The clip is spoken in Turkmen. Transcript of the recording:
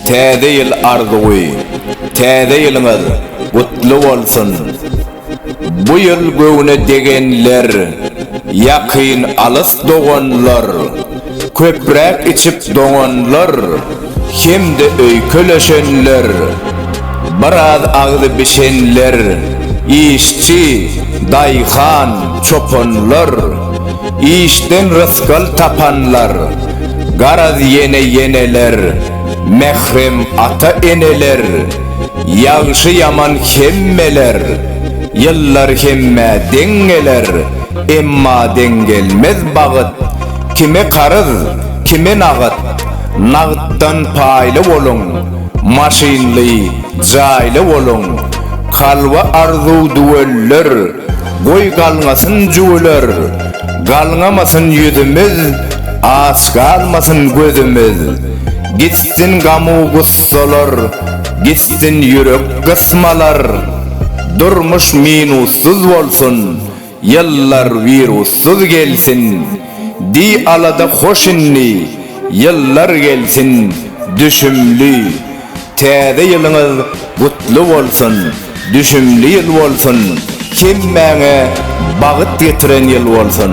Täze ýyl arzuwy, Täze ýylyňyz gutly bolsun! Bu ýyl göwne degenler, ýakyn-alys doganlar! Köpräk içip doňanlar hem-de öýkeleşenler, biraz agzy bişenler, işçi, daýhan, çopanlar, işden rysgal tapanlar, garaz ýene-ýeneler, mährem ata-eneler, ýagşy-ýaman hemmeler, ýyllar hemmä deň geler, emma deň gelmez bagyt, Kime karyz, kime nagt, nagtdan paýly boluň, maşynly, jaýly boluň, kalba arzuw düwelder, goý galňasyn jüwüler, galňamasyn ýüzümiz, aç galmasyn gözümiz, gitsin gamu gussalar, gitsin ýürek gysmalar, durmuş minussyz bolsun, Ýyllar wirussyz gelsin, Di alada hoş indi, Ýyllar gelsin, Düşümli. Täze ýylyňyz gutly bolsun, Düşümli ýyl bolsun, Hemmäňe bagyt getiren ýyl bolsun.